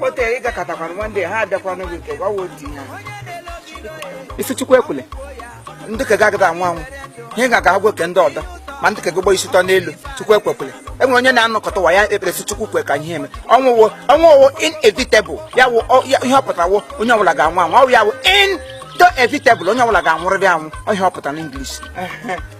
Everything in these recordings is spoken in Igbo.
otu ị gakọtakwana nwanne ha abịakwana gị nke gwawa otu ihe ị sị chukwu ekwele ndị ka ga-agada anwụ anwụ ihe ga agwa oke ndị ọdọ ma ndị ka gị gbọ isi tọ n'elu chukwu ekwekwele e nwere onye na-anọkọta ụwa ya ekpere sị chukwu kwe ka ihe eme ọnwụ wụ ọnwụ wụ inevitable ya wụ ihe ọ pụtara wụ onye ọbụla ga-anwụ anwụ ọwụ ya wụ inevitable onye ọbụla ga-anwụrịrị anwụ ọ ihe ọ pụtara n'English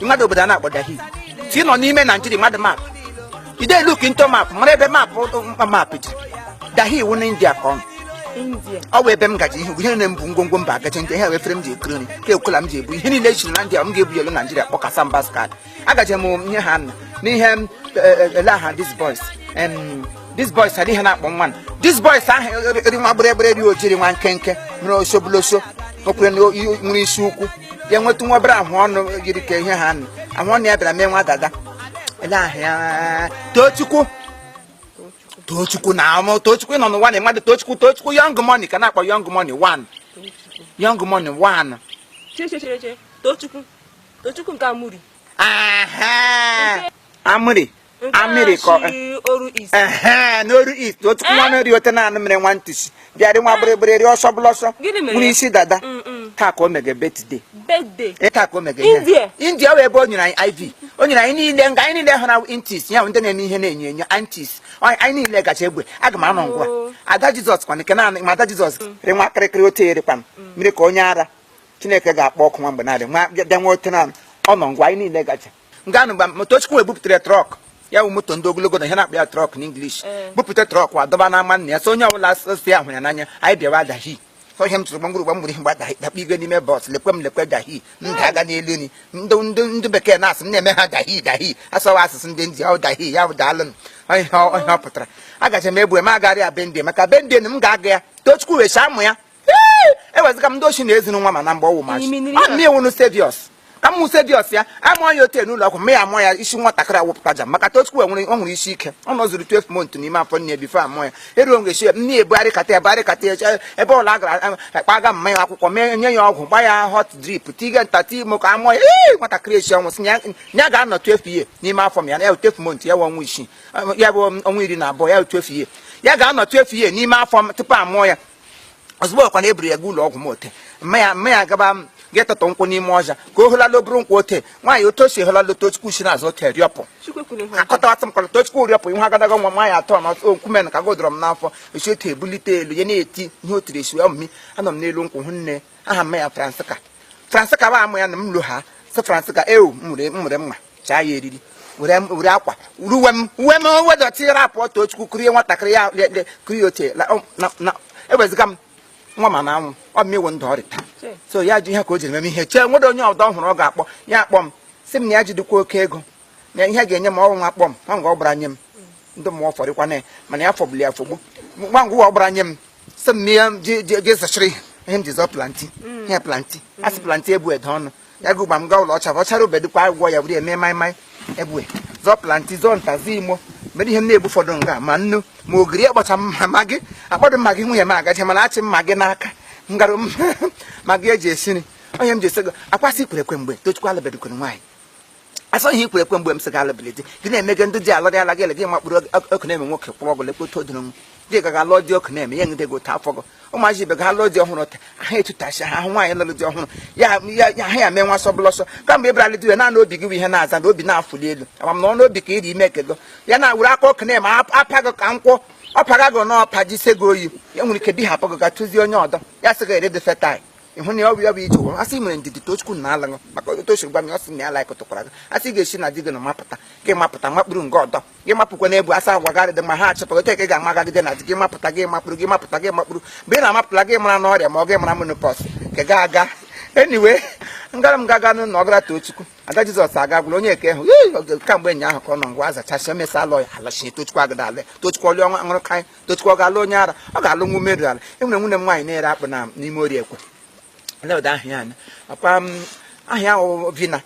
mmadụ obodo a na-akpọ dahi si nọ n'ime naijiria mmadụ map ide look into map mara ebe map mkpa map dị dahi iwu na india ka ọ nọ. ọ bụ ebe m gaji ihe ihe na-ebu ngwongwo mba agaje ndị ihe efere m ji ekiri nri ka ekwela m ji ebu ihe niile echiri na ndị a m ga-ebu yelu naijiria kpọkasa mba skad agaje m nye ha nna n'ihe m ele aha this boys em this boy sara ihe na-akpọ nwa na this boys ahụ eri- eri nwa gbịrịgbịrị rị oji rị nwa nkenke mere osobuloso okwere na o- i- nwere isi ukwu ya nwetụ nwa obere ahụ ọnụ yiri ka ihe ha nụ ahụ ọnụ ya bịara mee nwa dada ele aha ya tochukwu tochukwu na amụ tochukwu nọ n'ụwa na mmadụ tochukwu tochukwu young money ka na-akpọ young money one young money one Che che che che. Tochukwu. Tochukwu nke Amiri. Aha! Amiri amiri kọ ee n'oru east otu nwa eh? meri ote na-anụ mere nwa ntusi bịarị nwa eh? gbịrịgbịrị rị ọsọ bụla ọsọ nwere isi dada mm, mm. taa ka o mege birthday eh, taa ka o mege india wee ebe o nyere anyị iv o nyere anyị niile nga anyị niile hụrụ aunties ya ndị na-eme ihe na-enyo enyo aunties anyị niile gacha ebe aga m anọ ngwa oh. ada jizọs kwana nke naanị ma ada jizọs mm. rị nwa kịrịkịrị ote erikwana nri ka onye ara chineke ga-akpọ ọkụ nwa mgbe na-adị nwa bịa nwa ote na ọ nọ ngwa anyị niile gacha nga anụ mgbe Tochukwu wee bupụtara trọk ya bụ moto ndị ogologo na ihe na-akpọ ya trọk n'English eh. bupụta trọk wa dọba n'ama nna ya so onye ọbụla si ahụ ya n'anya anyị bịawa dahi so ihe m tụrụ gbamgburu gbamgburu ihe mgba dahi dakpa igwe n'ime bọs lekwe m lekwe dahi ndị eh. aga n'elu ni ndị ndị ndị bekee na-asị na-eme ha dahi dahi asọwa asụsụ ndị ndị ahụ dahi ya bụ daalụ ihe ọ pụtara agacha m egbue m agarị ya birthday maka birthday m ga-aga ya tochukwu wee saa mụ ya ewezuga m ndị ọchị na ezinụlọ ma na mgbe ọwụ machi ọ na iwu serious ka m mụ serious ya amụọ ya ote n'ụlọ ọgwụ ma ya amụọ ya isi nwatakịrị awụpụta ja maka tochukwu enwere ọ nwere isi ike ọ nọzuru 12 months n'ime afọ nne before amụọ ya eruo mgbe chi nne ebugharịkata ebugharịkata eche ebe ụlọ a gara akpaga mma ya akwụkwọ mee nye ya ọgwụ gba ya hot drip tiga nta ti imo ka amụọ ya ee nwatakịrị echi ọnwụ sị ya ga-anọ 12 years n'ime afọ mma ya na ya 12 months ya ọnwa isii ya bụ ọnwa iri na abụọ ya 12 years ya ga-anọ 12 years n'ime afọ m tupu amụọ ya ozugbo ọkwa na eburu ya ga ụlọ ọgwụ m ote mma ya mma ya gaba m ga atụtụ nkwụ n'ime ọhịa ka o holala o buru nkwụ ote nwaanyị otu o si holala tochukwu si n'azụ ote rịọpụ akọtawatụ m kọlọ tochukwu rịọpụ ihe agadaga nwa nwaanyị atọ ma nkwume na ka godọrọ m n'afọ esi otu ebulite elu ya na-eti ihe o tiri esi ọmụmi anọ m n'elu nkwụ hụ nne aha mma ya francisca francisca ba amụ ya na m lo ha sị francisca ewu m mụrụ mma chaa ya eriri were m- were akwa were uwe m uwe m uwe dọtị rapụ tochukwu kurie nwatakịrị ya le- le- kurie oche la- ọ- na- na- eweziga m nwa ma na anwụ ọ mmewo ndụ ọrịta so ya ji ihe ka o jiri meme ihe chee nwere onye ọdọ hụrụ ọ ga-akpọ ya akpọ m sị m na ya jidekwa oke ego na ihe ga-enye m ọrụ nwa akpọ m nwa ngwa ọ gbara nye m ndị mmụọ fọrịkwa na ya mana ya fọgbuli ya fọgbu nwa ngwa ọ gbara nye m sị m na ya ji- ji- ji zachiri ihe m ji zụọ plenty ihe plenty asị plenty ebu ede ọnụ ya gị ụgba m gaa ụlọ ọcha bụ ọchara obedu kwa agwọ ya were ya mee maịmaị ebue zụọ plenty zụọ nta zụọ imo mere ihe m na-ebu ụfọdụ nga ma nnu ma ogiri akpọcha maggi akpọdụ maggi nwunye m agaje mana achị maggi n'aka ngarụ maggi eji esi nri onye m ji esi ego akwasị kwere ekwe mgbe tochukwu alụbedukwere nwaanyị asọ ihe ikwere ekwe mgbe m sị gị alụbili di gị na-emege ndị di alọrị ala gị ele gị makpụrụ ọkụ na-eme nwoke kwụrụ ọgwụ lekpota odoro m gị gaga alụọ di ọkụ na-eme ya ngide gị otu afọ gị ụmụazị ibe ga alụọ di ọhụrụ ta ha etutachi ha ahụ nwaanyị lụrụ di ọhụrụ ya ya- ya ha ya mee nwa sọbụla ọsọ kamgbe ịbralị dị ya naanị obi gị bụ ihe na-aza na obi na-afụli elu amam na ọnụ obi ka iri ime kego ya na were aka ọkụ na-eme ap- apa gị ka nkwọ ọ paga gị n'ọpa jise gị oyi ya nwere ike bihapụ gị ga tụzie onye ọdọ ya sị gị erede fetai ịhụ na ọ bụ ya bụ ije ụwa asị mere ndidi tochukwu na alaṅụ maka otu o si gwa m ya ọ sị na ya like tụkwara gị asị ga-esi na di gị na mapụta gị mapụta makpụrụ nke ọdọ gị mapụkwa n'ebu asa agwa gị adịdị ma ha achọpụta otu eke ga-amagagide na di gị mapụta gị makpụrụ gị mapụta gị makpụrụ mgbe ị na-amapụta gị mara n'ọrịa ma ọ gị mara menopause ka ga aga anyway ngara m gaga n'ụlọ ọgara tochukwu ada jizọs aga gwụrụ onye eke hụ kamgbe ụnyaahụ ka ọ nọ ngwa azachasị o mesa alọ ya alachie tochukwu agada ale tochukwu ọlị ọnwa ṅụrụ kaị tochukwu ọ ga-alụ onye ara ọ ga-alụ nwa umeru ala enwere nwunye m nwaanyị na-ere akpụ na n'ime orie ekwe leweda aha ya anya akwa m aha ya wụ vina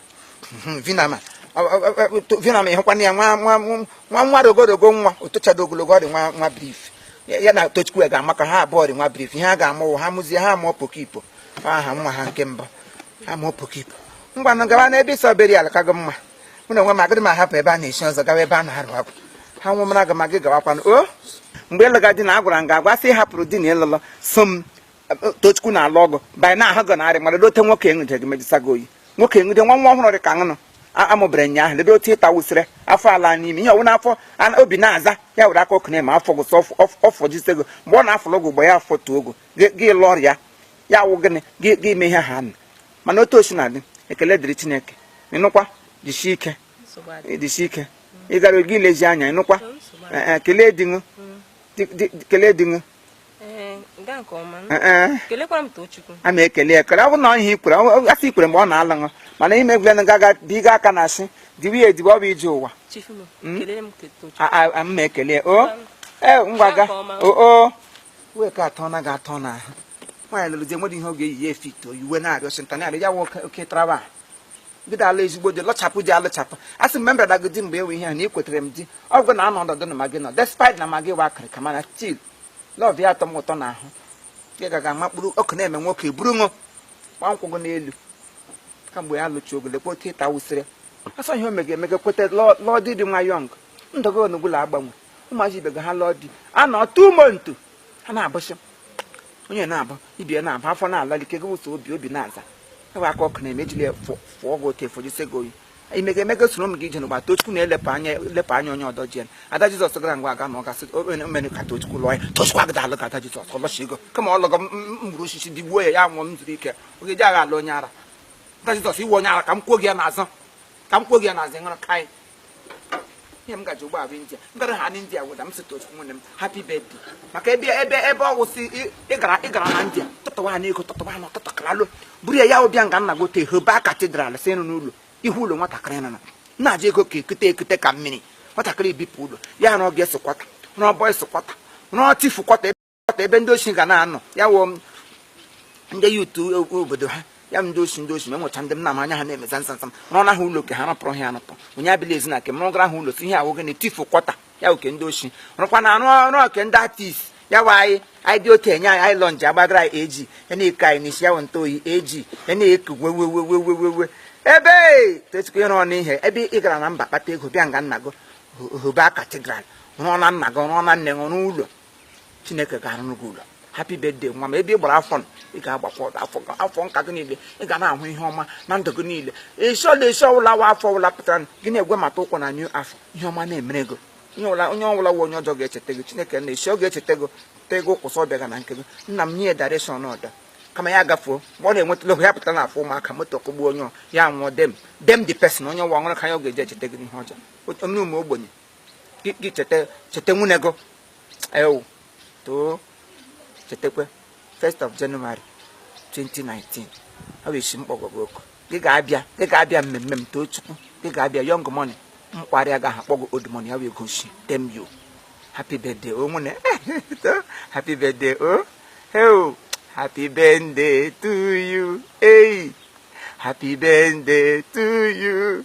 Mhm, vina ma Ọ- ọ- ọ- ọ- to- vina ma ịhụkwana ya nwa nwa nwa nwa rogorogo nwa otochado ogologo ọ dị nwa nwa brief ya ya na tochukwu ya ga-amaka ha abụọ dị nwa brief ihe ha ga-amụwụ ha mụzie ha mụọ pokipo aha nwa ha nke mbụ ha mụọ pokipo ngwanụ gawa n'ebe ịsọ beri ala ka gị mma mụ na onwe m agịrị m ahapụ ebe a na-echi ọzọ gawa ebe a na-arụ agwụ ha nwụ mara aga ma gị gawakwanụ o mgbe ịlụga di na agwara m ga-agwa sị hapụrụ di na ịlụlọ so m tochukwu na-alụ ọgụ banye na ahụ gọ narị mara dote nwoke enwude gị mejisa gị oyi nwoke enwude nwa nwa ọhụrụ dị ka ṅụnụ amụbara nya ahụ ledo otu ịta wụsịrị afọ ala n'ime ihe ọwụna afọ obi na-aza ya were aka ọkụ na-eme afọ gụsọ ọfọ jise gị mgbe ọ na-afụlụ gị ụgbọ ya afọ tuo ogo gị lụọ ọrịa ya wụ gịnị gị ime ihe ha na mana otu o si na-adị ekele dịrị chineke ị nụkwa jisie ike jisie ike ị gara oge ilezi anya ị nụkwa eh, eh, kelee di ṅụ kelee di ṅụ a ma ekele ekele ọ bụ na ihe ikwere afọ ikwere mgbe ọ na-alụ ṅụ mana ime egwulenụ gaga biga aka na asị diwe ya ediwe ọ bụ ije ụwa ma ekele o ee ngwaga oo wee ka atọ na ga-atọ n'ahụ nwaanyị lụrụ di enwere ihe ọ ga-eyi ya efit o yi uwe na-arịọ sịnta na-arịọ ya nwa oke traba bido ala ezigbo di lụchapụ di alụchapụ a sị mgbe m bịara gị di mgbe enwe ihe ha na ịkwetere m di ọ bụrụ na anọ ọdọdụ na magị nọ despite na magị wa akịrịka mana still love ya atọ m ụtọ na ahụ ya gaga amakpụrụ ọkụ na-eme nwoke buru ọṅụ gba nkwụ gị n'elu kamgbe ya lụchi ogo lekwa otu ịta wụsịrị asọ ihe o mega emega kweta lụọ di di nwa young ndọgo onugbula agbanwe ụmụazị ibe gị ha lụọ di a nọ two months ha na-abụsị onye na-abụ ibi ya na-abụ afọ na-ala gị kego ụsọ obi obi na-aza ewe aka ọkụ na-eme ejili fụọ gị otu efojisi gị oyi imega emega soro m gị ije n'ụgba tochukwu na-elepụ anya elepụ anya onye ọdọ jien ada jizọs gara ngwa aga na ọ ga-asị o mere ka tochukwu lụọ ya tochukwu agada alụ ka ada jizọs ọ lụchi ego kama ọ lụọ mgburu osisi tigbuo ya ya nwụọ m zuru ike oge ji aga alụ onye ara ada jizọs ị wụ onye ara ka m kwuo gị ya n'azụ ka m kwuo gị ya n'azụ nụrụ kai ihe m ga-eji ụgbọala india m gara ha n'india weda m si tochukwu nwanne m happy birthday maka ebe ebe ebe ọ wụsị ị- ị gara ị gara na india tụtụwa ha n'ego tụtụwa ha n'ọtụtụ kalalo buru ya ya bịa nga nna gote hoba cathedral si nụ n'ụlọ ihu ụlọ nwatakịrị nọ na na-eji ego ka ekute ekute ka mmiri nwatakịrị bipụ ụlọ ya rụọ girls quarter rụọ boys quarter rụọ chief quarter ọta ebe ndị osi ga na-anọ ya wụ ndị youth obodo ha ya ndị osi ndị osi ma enwecha ndị m na anya ha na-emeza nsansa m rụọ na ha ụlọ nke ha rụpụrụ ha anụpụ onye abịla ezi na nke m rụgara ha ụlọ si ihe awụghị na chief quarter ya oke ndị osi rụkwa na arụ ọrụ oke ndị artist ya wa anyị anyị dị otu enye anyị anyị lọnji agbagara anyị eji ya na-eke anyị n'isi ya wụ ntụ oyi eji ya na-eku wewewewewewe ebe tochukwu ị rụọnụ ihe ebe ị gara na mba kpata ego bịa nga nna gị hụba cathedral rụọ na nna gị rụọ na nne gị rụọ ụlọ chineke ga-arụrụ gị ụlọ happy birthday nwa m ebe ị gbara afọ ị ga-agbakwa afọ nka gị niile ị ga na-ahụ ihe ọma na ndụ gị niile ịsọ na ịsọ ọwụla wa afọ ọwụla pụtara gị na-ewebata ụkwụ na new afọ ihe ọma na-emere gị onye ọbụla wụ onye ọjọọ ga-echeta gị chineke na esi ọ ga-echeta gị te gị ụkwụsị ọ bịaga na nke gị nna m nye direction ọdọ kama ya gafuo mgbe ọ na-enwetala oge ya pụtara na afọ ụmụaka moto kụgbuo onye ya nwụọ dem dem the person onye nwa ọṅụrụ ka ya ọ ga-eji echeta gị n'ihe ọjọọ onye ụmụ ogbenye gị cheta cheta nwanne gị ewu too chetakwa 1st of January 2019 ọ bụ isi m kpọgo gị oku gị ga-abịa gị ga-abịa mmemme m tochukwu gị ga-abịa young money mkparị agaghị akpọ gị old money ya wee gosi dem you happy birthday o nwanne happy birthday o heo happy birthday to you hey happy birthday to you